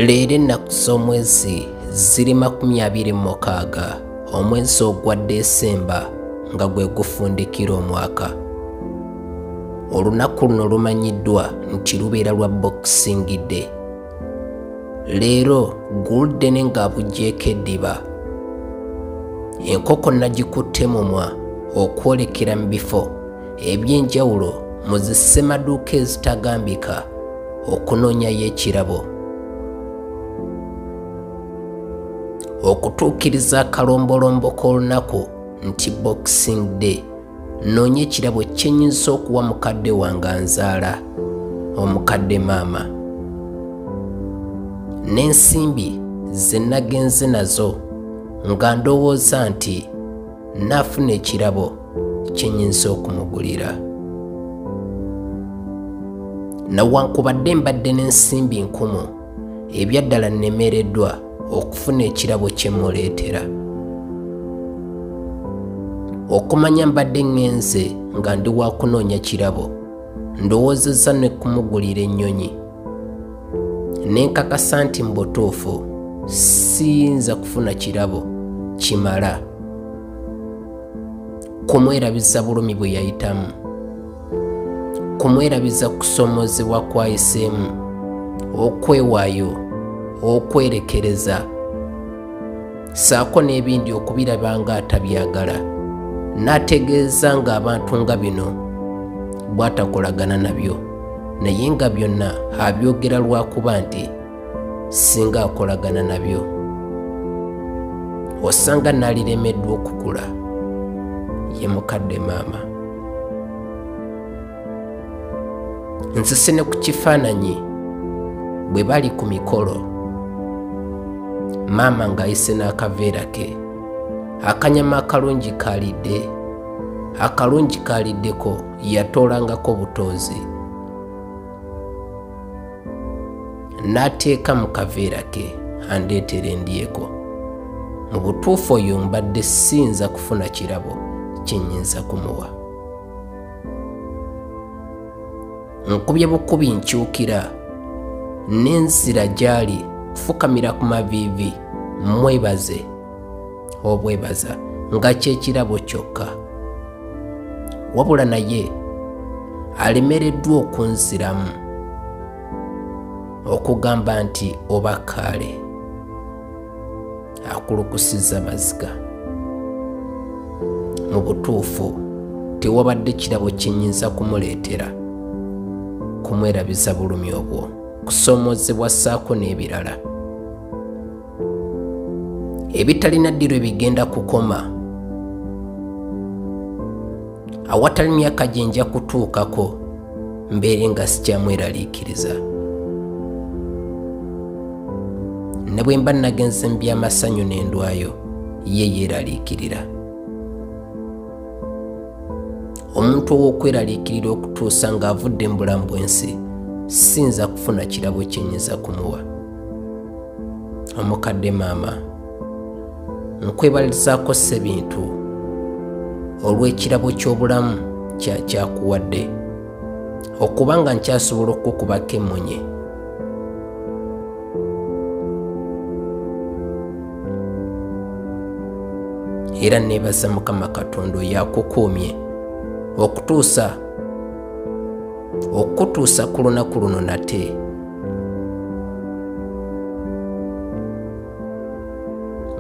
leero ennaku z'omwezi ziri makumi abiri mu mukaaga omwezi ogwa desemba nga gwe gufundikira omwaka olunaku luno lumanyiddwa nti lubeera lwa bokisingidde leero guldene ng'abuggyeko eddiba enkoko nagikutte mumwa okwolekera mu bifo eby'enjawulo mu zi ssemaduuka ezitagambika okunoonyayo ekirabo okutuukiriza akalombolombo k'olunaku nti boxing day noonya ekirabo kyenyinza okuwa mukadde wange nzaala omukadde maama n'ensimbi ze nagenze nazo nga ndowooza nti nafuna ekirabo kyenyinza okumugulira nawankubadde mbadde n'ensimbi nkumu ebyaddala nnemereddwa okufuna ekirabo kye muleetera okumanya mbadde ŋŋenze nga ndi wakunoonya kirabo ndowoozezza ne kumugulira ennyonyi nenkakasa nti mu butuufu siyinza kufuna kirabo kimala kumwerabiza bulumi bwe yayitamu kumwerabiza kusomozebwa kwayiseemu okwewaayo okwerekereza saako n'ebindi okubiraba nga atabyagala n'ategeeza ng'abantu nga bino bw'atakolagana nabyo naye nga byonna abyogera lwakuba nti singa akolagana nabyo osanga naliremeddwa okukula ye mukadde maama nsese ne ku kifaananyi bwe bali ku mikolo maama ng'ayise n'akaveera ke akanyama akalungi kaalidde akalungi kaaliddeko yatoolangako butoozi n'ateeka mu kaveera ke andeetera endyeko mu butuufu oyo mbadde siyinza kufuna kirabo kye nnyinza kumuwa nkubye bukubi nkyukira n'enzira gy'ali kufukamira ku maviivi mwebaze obwebaza nga kyekirabo kyokka wabula naye alemereddwa okunziramu okugamba nti oba kaale akulukusiza maziga mu butuufu tewabadde kirabo kyenyinza kumuleetera kumwerabiza bulumi obwo kusoomoozebwa ssaako n'ebirala ebitalina ddirwe bigenda kukoma awatali myaka gye nja kutuukako mbeere nga sikyamweraliikiriza ne bwe mba nagenze mu by'amasanyu n'endwayo ye yeeraliikirira omuntu ow'okweraliikirira okutuusa ng'avudde mu bulamu bw'ensi siyinza kufuna kirabo kyenyinza kumuwa omukadde maama nkwebalirizaako ssebintu olw'ekirabo ky'obulamu kyakyakuwadde okuba nga nkyasobola okukubako emmunye era neebaza mukama katonda oyo akukuumye okutuusa okutuusa ku lunaku luno nate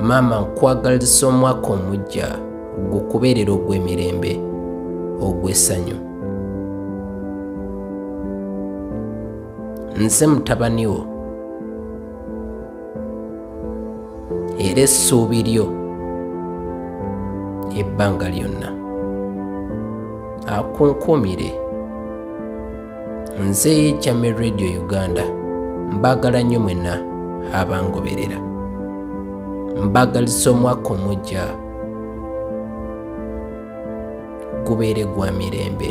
maama nkwagaliza omwaka omujja gukubeerera ogw'emirembe ogw'essanyu nze mutabani wo era essuubi lyo ebbanga lyonna akunkuumire nze chame radio uganda mbagala nnyo mwena abangoberera mbagalisa omwaka omujja gubeere gwa mirembe